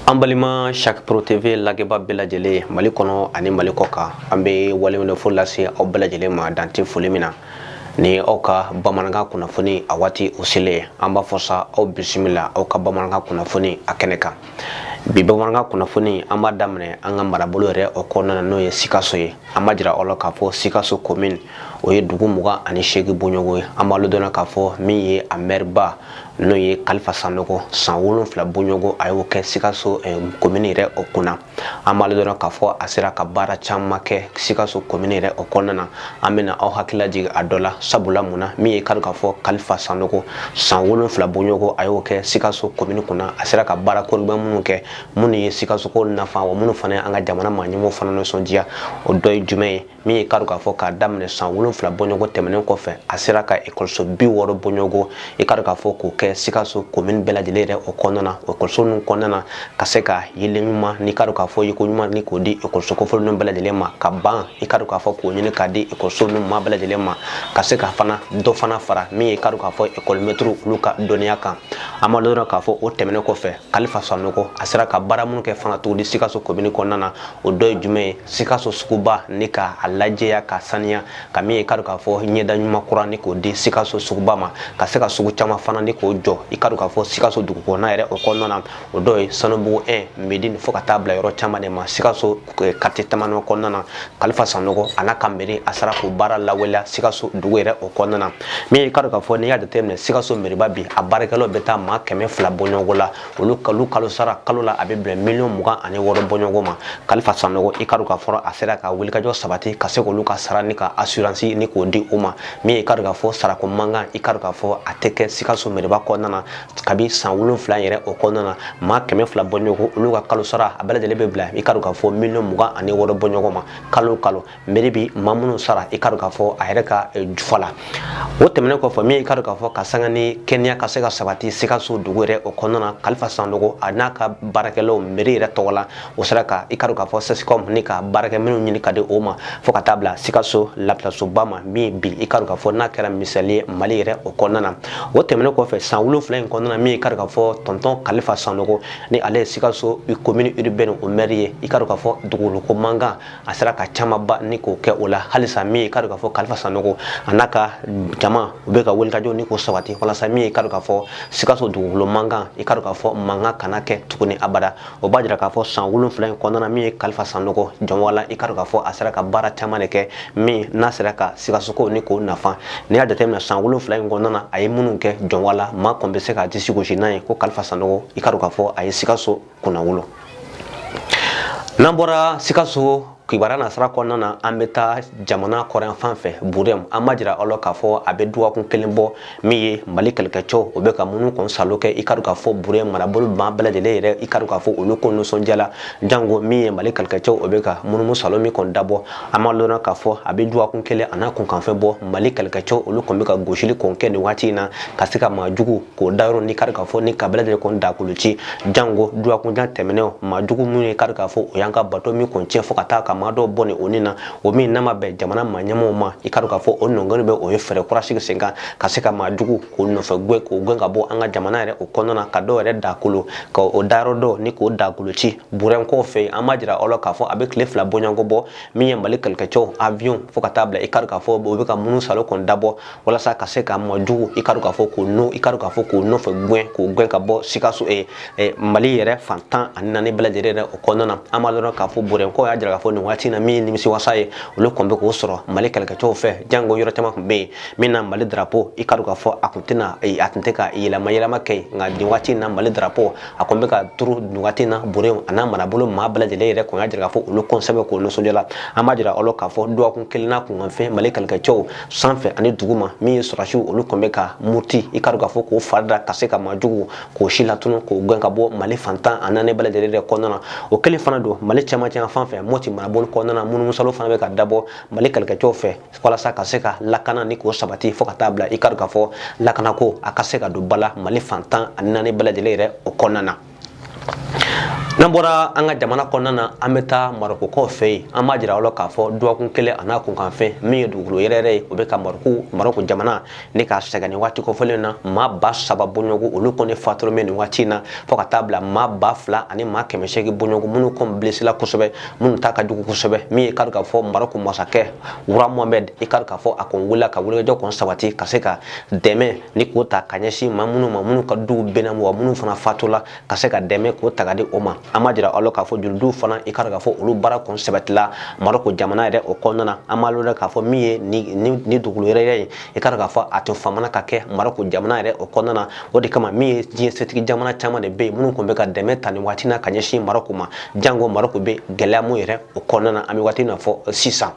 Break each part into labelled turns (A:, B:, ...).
A: An balima saoro tewe lajɛbaa bɛɛ lajɛlen mali kɔnɔ ani mali kɔ kan an bɛ waleɲuman fo lase aw bɛɛ lajɛlen ma dan tɛ foli min na ni aw ka bamanankan kunnafoni a waati o selen ye an b'a fɔ sa aw bisimila aw ka bamanankan kunnafoni a kɛnɛ kan bi bamanankan kunnafoni an b'a daminɛ an ka marabolo yɛrɛ o kɔnɔna na n'o ye sikaso ye an b'a jira aw la k'a fɔ sikaso komin o ye dugu mugan ani seegin bɔɲɔgɔn ye an b'aw ladɔnniya k'a fɔ min ye a mɛriba n'o ye kalifa sanɔgɔ san wolonfila bɔɲɔgɔn a y'o kɛ sikaso eh, komin yɛrɛ o kunna an b'aw ladɔnniya k'a fɔ a sera ka baara caman kɛ sikaso komin yɛrɛ o kɔnɔna na an bɛna aw hakilila jigin a dɔ la sabula mun na min ye i ka dɔn k'a fɔ kalifa sanɔgɔ san wolonfila bɔɲɔgɔn a y'o kɛ sikaso komini kunna a sera ka baara kɔrɔbɛ minnu kɛ minnu ye sikasokaw nafa wa minnu fana ye an ka jamana maaɲɛmɔgɔw fana nisɔndiya o dɔ ye jumɛn ye min ye i ka dɔn k'a fɔ k'a daminɛ san wolonfila bɔɲɔgɔn tɛmɛnen kɔfɛ a sera ka ekɔliso bi wɔɔrɔ bɔɲɔgɔn i ka dɔn k'a fɔ k'o kɛ sikaso komini bɛɛ lajɛlen yɛrɛ o kɔnɔna na ekɔliso ninnu kɔnɔna na ka se ka yeelen ɲuman ni i ka dɔn k'a fɔ yeko ɲuman ni k'o di ekɔliso kofɔlen bɛɛ lajɛlen ma ka ban i ka dɔn k'a fɔ k'o ɲini k'a di ekɔliso ninnu ma bɛɛ lajɛlen ma ka se ka fana dɔ fana fara min ye i ka dɔn k'a fɔ ekɔlimɛtiriw olu ka dɔnniya kan an b'a dɔn k'a fɔ o tɛmɛnen kɔfɛ kalifa sanɔgɔ a sera ka baara minnu kɛ fana tuguni sikaso komini kɔnɔna na o dɔ ye jumɛn ye sikaso suguba ni ka a lajɛya ka saniya ka min ye i ka dɔn k'a fɔ ɲɛda ɲuman kura ni k'o di sikaso suguba ma ka se ka sugu caman fana ni k'o jɔ i ka dɔn k'a fɔ sikaso dugukɔnɔna yɛrɛ o kɔnɔna na o dɔ ye sanubugu 1 medini fo ka taa bila yɔrɔ caman de ma sikaso waati damadɔ kɔnɔna na kalifa sanɔgɔ a n'a ka meri a sera k'o baara lawaleya sikaso dugu yɛrɛ o kɔnɔna na min ye i ka dɔn k'a fɔ n'i y'a jateminɛ sikaso meriba bi a baarakɛlaw bɛ taa maa kɛmɛ fila bɔɲɔgɔn la olu ka kalo sara kalo la a bɛ bɛn miliyɔn mugan ani wɔɔrɔ bɔɲɔgɔn ma kalifa sanɔgɔ i ka dɔn k'a fɔ a sera ka wulikajɔ sabati ka se k'olu ka sara ni ka asuransi ni k'o di u ma min ye i ka dɔn k'a fɔ sarako mankan i ka dɔn k'a fɔ a tɛ kɛ sikaso meriba kɔnɔna na kabi san wolonfila yɛrɛ o kɔnɔna na maa kɛmɛ fila bɔɲɔgɔn olu ka kalo sara a bɛɛ lajɛlen bɛ bila i ka dɔn k'a fɔ miliyɔn mugan ani wɔɔrɔ bɔɲɔgɔn ma kalo kalo meri bi maa minnu sara i ka dɔn k'a fɔ a yɛrɛ ka eh, jufa la o tɛmɛnen kɔfɛ min i ka dɔn k'a fɔ ka saniya ni kɛnɛya ka se ka sabati sikaso dugu yɛrɛ o kɔnɔna na kalifa sanɔgɔ a n'a ka baarakɛlaw meri yɛrɛ tɔgɔ la u sera ka i ka dɔn k'a fɔ sesicom ni ka baarakɛminɛnw ɲini k'a di u ma fɔɔ ka taa bila sikaso lapitalisoba ma min bi i ka dɔn k'a fɔ n'a kɛra misali ye mali yɛrɛ o kɔnɔna na o tɛmɛnen kɔfɛ san wolonfila in kɔnɔna na min i ka dɔn k'a fɔ tɔntɔn kalifa sanɔgɔ ni ale ye sikaso komini uribɛni o mɛri ye i ka dɔn k'a fɔ dugukolo mankan a sera ka camanba ni k'o kɛ o la halisa min i ka dɔn k'a fɔ kalifa sanɔgɔ a n'a ka jama u bɛ ka wulikajɔ ni k'o sabati walasa min i ka dɔn k'a fɔ sikaso dugukolo mankan i ka dɔn k'a fɔ mankan kana kɛ tuguni abada o b'a jira k'a fɔ san wolonwula in kɔnɔna min ye kalifa sanɔgɔ jɔnwala i ka dɔn k'a fɔ a sera ka baara caman de kɛ min n'a sera ka sikasokaw ni k'o nafa n'i y'a jateminɛ san wolonwula in kɔnɔna a ye minnu kɛ jɔnwala maa kɔni bɛ se k'a disi gosi n'a ye ko kalifa sanɔgɔ i ka dɔn k'a fɔ a ye sikaso kunnawolo n'an bɔra sikaso kibaru nasira kɔnɔna na an bɛ taa jamana kɔrɔnfan fɛ burɛmu an b'a jira aw la k'a fɔ a bɛ dɔgɔkun kelen bɔ min ye mali kɛlɛkɛcɛw o bɛ ka munumunu kɔni salo kɛ i ka dɔn k'a fɔ burɛmu marabolo maa bɛɛ lajɛlen yɛrɛ i ka dɔn k'a fɔ olu kɔni nisɔndiyala jango min ye mali kɛlɛkɛcɛw o bɛ ka munumunu salo min kɔni dabɔ an b'a lɔn k'a fɔ a bɛ dɔgɔkun kelen a n'a kunkanfɛn bɔ mali kɛlɛkɛcɛw olu kɔni bɛ ka gosili kɔni kɛ nin waati in na ka se ka maa jugu k'o dagayɔrɔ ni kari k'a fɔ ni k'a bɛɛ lajɛ kɔni dagakolon ci jango dɔgɔkun dama tɛmɛnenw maa jugu minnu ye kari k'a fɔ o y'an ka bato min kɔni tiɲɛ fɔ ka taa ka maa dɔw bɔnɛ o ni na o min n'a ma bɛn jamana maa ɲɛmɔgɔw ma i kari k'a fɔ o nɔngɔni bɛɛ o ye fɛɛrɛ kura sigi sen kan ka se ka maa jugu k'o nɔfɛ gɛn k'o gɛn ka bɔ an ka jamana yɛrɛ o kɔnɔna na ka dɔw yɛrɛ dagakolon k'o dagayɔrɔ dɔ ni k'o dagakolon ci burɛmukaw fɛ an b'a jira aw la k'a fɔ a bɛ tile fila bɔɲɔgɔnko bɔ min ye mali kɛlɛkɛcɛw avion fɔ ka taa bila i kari k'a fɔ o bɛ ka munumunu salo kɔni dabɔ walasa ka se ka maa jugu i ka dɔn k'a fɔ k'o no i ka dɔn k'a fɔ k'o nɔfɛ gɛn k'o gɛn ka bɔ sikaso eh, eh, mali yɛrɛ fan tan ani naani bɛɛ lajɛlen yɛrɛ o kɔnɔna na an b'a dɔn k'a fɔ burɛmukaw y'a jira k'a fɔ nin waati na min ye nimisiwasa ye olu kɔni bɛ k'o sɔrɔ mali kɛlɛkɛcɛw fɛ jango yɔrɔ caman tun bɛ yen min na mali darapo i ka dɔn k'a fɔ a tun tɛna eh, a tun tɛ ka yɛlɛma yɛlɛma kɛ yen nka nin waati na mali darapo a kɔni bɛ ka turu nin waati na burɛmu a n'a marabolo maa bɛɛ lajɛlen yɛrɛ kɔni y'a jira k'a fɔ olu kɔni sɛbɛkɔrɔ nisɔndiyala an b'a jira aw la k'a fɔ dɔgɔkun kelen n'a kunkanfɛn mali kɛlɛkɛcɛw sanfɛ ani duguma min ye sɔrɔdasiw olu kɔni bɛ ka muruti i ka dɔn k'a fɔ k'o fari da ka se ka maajugu k'o silatunu k'o gɛn ka bɔ mali fan tan ani naani bɛɛ lajɛlen yɛrɛ kɔnɔna na o kelen fana don mali cɛmancɛ fan fɛ mɔti marabolo kɔnɔna na munumunu salo fana bɛ ka dabɔ mali kɛlɛkɛcɛw fɛ walasa ka se ka lakana ni k'o sabati fɔ ka taa bila i ka dɔn k'a fɔ lakanako a ka se ka don ba la mali fan tan ani naani bɛɛ lajɛlen yɛrɛ o kɔnɔna na N'an bɔra an ka jamana kɔnɔna na an bɛ taa marɔkukaw fɛ yen an b'a jira aw la k'a fɔ dɔgɔkun kelen a n'a kunkanfɛn min ye dugukolo yɛrɛyɛrɛ ye o bɛ ka marɔku marɔku jamana ni k'a sɛgɛn nin waati kofɔlen in na maa ba saba bɔɲɔgɔnko olu kɔni fatulen bɛ nin waati in na fɔ ka taa bila maa ba fila ani maa kɛmɛ seegin bɔɲɔgɔnko minnu kɔni blessera kosɛbɛ minnu ta ka jugu kosɛbɛ min ye kari k'a fɔ marɔku masakɛ Roi Mohamɛdi i kari k'a fɔ a kɔni wulila ka wulikajɔ kɔni sabati ka se ka dɛmɛ ni k'o ta ka ɲɛsin maa minnu maa minnu ka duw binna wa minnu fana fatula ka se ka dɛmɛ k'o ta k'a di o ma an b'a jira aw la k'a fɔ jolidiw fana i ka dɔn k'a fɔ olu baara kɔni sabatila maroko jamana yɛrɛ o kɔnɔna na an b'a lɔn k'a fɔ min ye ni dugukolo yɛrɛyɛrɛ ye i ka dɔn k'a fɔ a tun famana ka kɛ maroko jamana yɛrɛ o kɔnɔna na o de kama min ye diɲɛ setigi jamana caman de bɛ yen minnu tun bɛ ka dɛmɛ ta nin waati na ka ɲɛsin maroko ma janko maroko bɛ gɛlɛya min yɛrɛ o kɔnɔna na an bɛ waati na fɔ sisan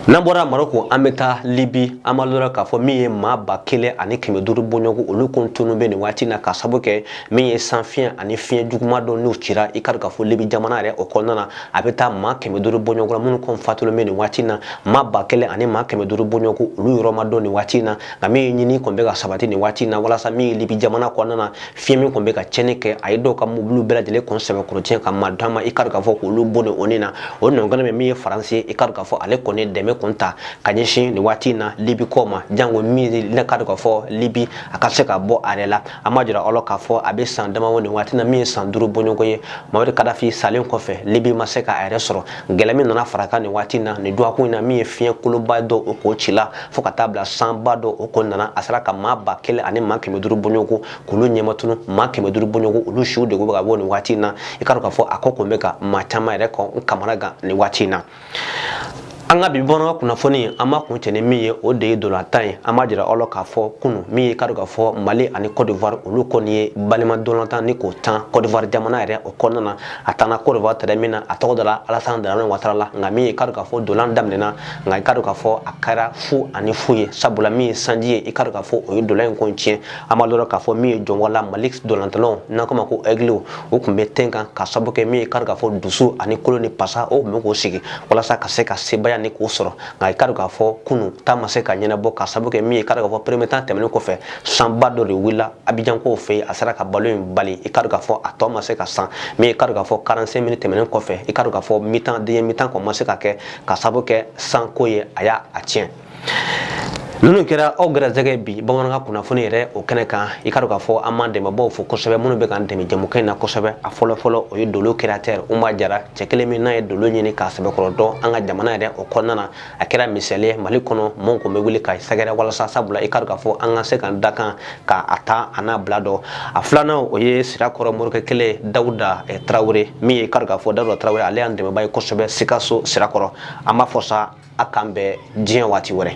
A: n'an bɔra maroko an bɛ taa libi an b'a jira k'a fɔ min ye maa ba kelen ani kɛmɛ duuru bɔɲɔgɔn olu kɔni tununnen bɛ nin waati na ka sabu kɛ min ye sanfiɲɛ ani fiɲɛ juguma dɔ n'o cira i ka k'a fɔ libi jamana yɛrɛ o kɔnɔna na a bɛ taa maa kɛmɛ duuru bɔɲɔgɔn minnu kɔni fatulen bɛ nin waati na maa ba kelen ani maa kɛmɛ duuru bɔɲɔgɔn olu yɔrɔ ma dɔn nin waati na nka min ye ɲini kɔni bɛ ka sabati nin waati na walasa min ye libi jamana kɔnɔna na fiɲɛ min kɔni bɛ ka cɛnni kɛ a ye dɔw ka mobiliw bɛɛ lajɛlen kɔni sɛbɛkɔrɔ tiɲɛ ka maa damaw i ka k'a fɔ k'olu bɔnɛ u nin na o nɔnkɛnɛ bɛ min ye faransi i ka k'a fɔ ale kɔni dɛmɛ kun ta ka ɲɛsin nin waati in na libi kɔ ma janko min ye i ka k'a fɔ libi a ka se ka bɔ a yɛrɛ la an b'a jira aw la k'a fɔ a bɛ san damaw nin waati na min ye san duuru bɔɲɔgɔn ye mamadu kadafi salen kɔfɛ libi ma se ka a yɛrɛ sɔrɔ gɛlɛya min nana fara a kan nin waati in na nin dɔgɔkun in na min ye fiɲɛ kolonba dɔ o k'o ci la fo ka taa bila sanba dɔ o kɔnɔna na a sera ka maa ba kelen ani maa kɛmɛ duuru bɔɲɔgɔn kɔni k'olu ɲɛmatunu maa kɛmɛ duuru bɔɲɔgɔn kɔni olu suw de bɛ ka bɔ nin waati in na i k'a dɔn k'a fɔ a ko kɔni bɛ ka maa caman yɛrɛ kɔni kamanagan nin waati in na an ka bi bamanankan kunnafoni an b'a kun cɛ ni min ye o de ye ntolatan ye an b'a jira aw la k'a fɔ kunu min ye k'a dɔn k'a fɔ mali ani cote d'ivoire olu kɔni ye balima ntolatan nin kɔni tan cote d'ivoire jamana yɛrɛ o kɔnɔna na a taana cote d'ivoire tɛrɛn min na a tɔgɔ dara alasana daramani watara la nka min ye k'a dɔn k'a fɔ ntola in daminɛna nka i ka dɔn k'a fɔ a kɛra fu ani fu ye sabula min ye sanji ye i ka dɔn k'a fɔ o ye ntola in kɔni tiɲɛ an b'a dɔn k'a fɔ min ye jɔnwala mali ntolatannaw n'an k'o ma ko ɛgiliw o tun bɛ tɛn kan ka sabu kɛ min ye i ka dɔn k'a fɔ dusu ani kolo ni pasa o tun bɛ k'o sigi walasa ka se ka sebaaya nin kɔni sɔrɔ nka i ka dɔn k'a fɔ kunu ta ma se ka ɲɛnabɔ ka sabu kɛ min ye i ka dɔn k'a fɔ première mi-temps tɛmɛnen kɔfɛ sanba dɔ de wulila abijan kow fɛ yen a sera ka balon in bali i ka dɔn k'a fɔ a tɔ ma se ka tan min i ka dɔn k'a fɔ 45 minutes tɛmɛnen kɔfɛ i ka dɔn k'a fɔ mi-temps deuxième mi-temps kɔni ma se ka kɛ ka sabu kɛ san ko ye a y'a tiɲɛ ninnu kɛra aw garisɛgɛ bi bamanankan kunnafoni yɛrɛ o kɛnɛ kan i ka dɔn k'a fɔ an b'an dɛmɛbaaw fo kosɛbɛ minnu bɛ k'an dɛmɛ jɛmukɛ in na kosɛbɛ a fɔlɔ fɔlɔ o ye dolo créateur Umar Jara cɛ kelen min n'a ye dolo ɲini k'a sɛbɛkɔrɔ dɔn an ka jamana yɛrɛ o kɔnɔna na a kɛra misaliya Mali kɔnɔ mɔgɔw kɔni bɛ wuli k'a sɛgɛrɛ walasa sabula i ka dɔn k'a fɔ an ka se k'an dakan ka a ta a n'a bila dɔn a filanan o ye sirakɔrɔ morikɛ kelen dawuda eh, tarawele min ye kari k'a fɔ dawuda tarawele ale y'an dɛmɛba ye kosɛbɛ sikaso sirakɔrɔ an b'aw fo sa a k'an bɛn diɲɛ waati wɛrɛ